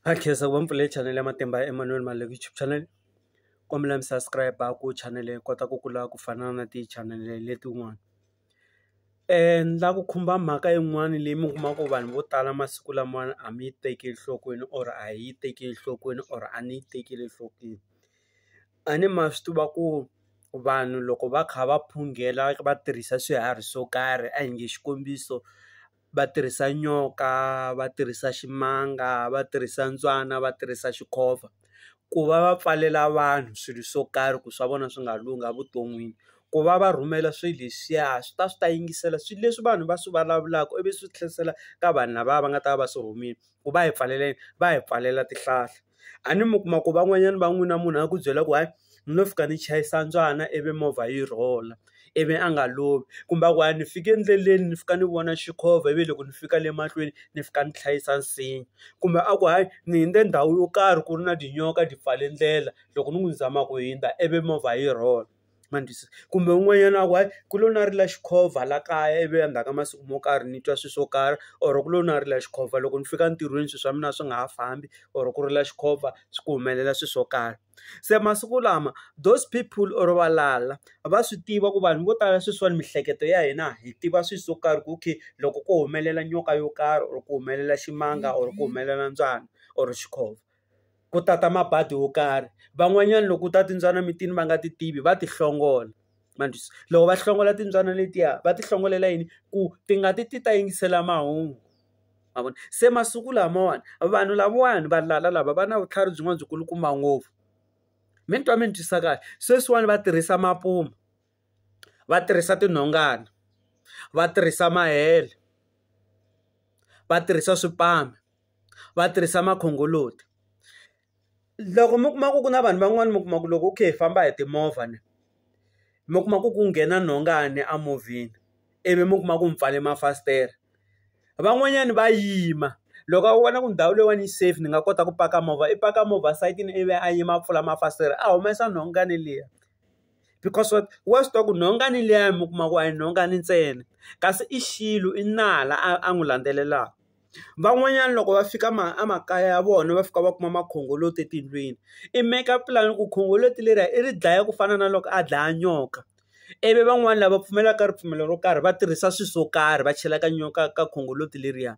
Ha khensa ku va mi pfule chanele ya Matimba ya Emmanuel Maleku YouTube channel kombela mi subscribe ku chanele yi kota ku kula ku fana na ti chanele letin'wana la ku khumba mhaka yin'wani leyi mi kuma ku vanhu vo tala masiku lamawani a mi yi tekeli enhlokweni or a hi yi tekeli enhlokweni or a ni yi tekeli enhlokweni a ni ma swi tiva ku vanhu loko va kha va phungela va tirhisa swiharhi swo karhi a hi nge xikombiso. va tirhisa nyoka va tirhisa ximanga va tirhisa ntswana va tirhisa xikhova ku va va pfalela vanhu swilo swo karhi ku swa vona swi nga lunghi evuton'wini ku va va rhumela swilo leswiya swi ta swi ta yingisela swilo leswi vanhu va swi vulavulaka ivi swi tlherisela ka vanhu lava va nga ta va va swi rhumile. ku va hi pfalele va hi pfalela tihlahla, a ni mi kuma ku van'wanyana va n'wina munhu a ku byela ku hayi ni lo fika ni chayisa mbyana ivi movha yi rhula ivi a nga lovi, kumbe a ku hayi ni fike endleleni ni fika ni vona xikhova ivi loko ni fika le mahlweni ni fika ni hlayisa nsinya, kumbe a ku hayi ni hundze ndhawu yo karhi ku ri na tinyoka ti pfale ndlela loko ni n'wi zama ku hundza ivi movha yi rhola. ma ni twisisa kumbe un'wanyana a ku hayi ku lo na rila xikhova la kaya ivi endzhaku ka masiku mo karhi ni twa swi swo karhi or ku lo na rila xikhova loko ni fika ntirhweni swi swa mina swi nga ha fambi or ku rila xikhova swi ku humelela swi swo karhi se masiku lama those people or valala va swi tiva ku vanhu vo tala sweswiwani miehleketo ya hina hi tiva swi swo karhi ku okay loko ko humelela nyoka yo karhi or ku humelela ximanga or ku humelela mbyana or xikhova. ku ta ta mabadi wo karhi. Van'wanyana loko ku ta timbyana emitini va nga ti tivi va ti hlongola, ma ni twisisa? Loko va hlongola timbyana letiya va ti hlongolela yini? Ku ti nga ti ti ta yingisela mahungu, ma vona? Se masiku lamawani vanhu lavawani valala lava va na vutlhari byin'wana byi kulukumba ngopfu. Mi ni twa mi ni twisa kahle? Sweswiwani va tirhisa mapuma, va tirhisa tinhongana, va tirhisa mahele, va tirhisa swipanu. va tirhisa makhongoloti. Loko mi kuma ku ku na vanhu van'wani mi kuma ku loko u kha hi famba hi timovha ni, mi kuma ku ku nghena nhongani emovheni ivi mi kuma ku mi pfale mafasitere. Van'wanyani va yima, loko a vona ku ndhawu leyiwani yi safe ni nga kota ku paka movha, i paka movha sayitini ivi a yima a pfula mafasitere a humesa nhongani liya. Because what? Wa swi tiva ku nhongani liya mi kuma ku a hi nhongani ntsena, kasi i xilo i nala a a n'wi landzelelaka. Van'wanyana loko va fika ma a makaya ya vona va fika va kuma makhongoloti etindlwini, i make-a plan ku khongoloti leriya i ri dlaya ku fana na loko a dlaya nyoka, ivi van'wani lava pfumelaka ka ripfumelo ro karhi va tirhisa swilo swo karhi va chela ka nyoka ka khongoloti leriya,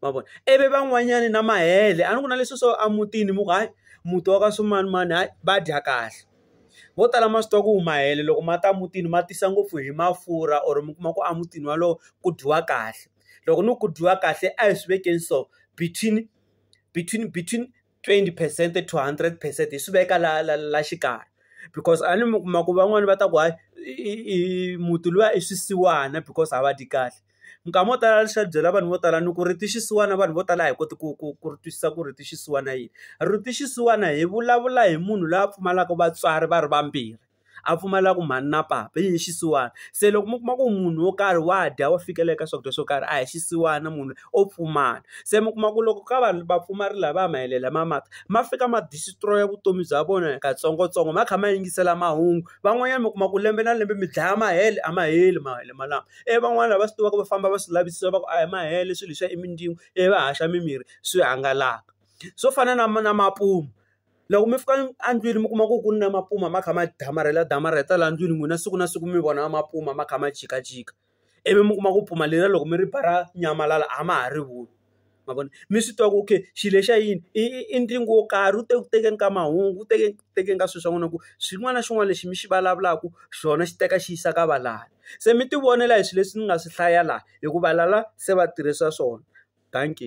ma vona ivi van'wanyani na mahele a ni ku na leswi swo a mutini mi ku hayi muti wa ka swimanimani hayi va dya kahle, vo tala ma swi tiva ku mahele loko ma ta mutini ma tisa ngopfu hi mafurha or mi kuma ku a mutini wolowo ku dyiwa kahle. loko ni ku dyiwa kahle a hi swi vekeni so between between between twenty percent to hundred percent hi swi veka la la la xikarhi because a ni mi kuma ku van'wani va ta ku hayi i muti luya i swisiwana because a va dyi kahle minkama yo tala leswi a byela vanhu vo tala ni ku ri ti xisiwana vanhu vo tala a hi koti ku ku ku ri twisisa ku ri ti xisiwana yini ri ti xisiwana hi vulavula hi munhu loyi a pfumalaka vatswari va ri vambirhi a pfumalaka mhani na papa i hi xisiwana se loko mi kuma ku munhu wo karhi wa dya wa fikela eka swakudya swo karhi a hi xisiwana munhu o pfumala se mi kuma ku loko ka vanhu va pfumari lava ya mahele lama ma ta ma fika ma destroy vutomi bya vona hi katsongotsongo ma kha ma yingisela mahungu van'wanyana mi kuma ku lembe na lembe mi dlaya mahele a ma heli mahele malama ivi van'wani lava swi tivaka va famba va swi lavisisa va ku a hi ma hela swilo leswiya i mindzilo ivi va haxa mimirhi swi hangalaka swo fana na na mapumu. Loko mi fika endlwini mi kuma ku ku na mapuma ma kha ma damarhela damarheta laha ndlwini n'wina siku na siku mi vona mapuma ma kha ma jikajika ivi mi kuma ku puma leriya loko mi ri ba ra nyamalala a ma ha ri voni ma vona mi swi tiva ku okay xilo lexiya i yini i i i ntlingo wo karhi wu te ku tekeni ka mahungu wu teke ku tekeni ka swilo swa n'wina ku xin'wana na xin'wana lexi mi xi vulavulaka xona xi teka xi yisa ka valala se mi tivonela hi swilo leswi ni nga swi hlaya laha hikuva valala se va tirhisa swona dankie.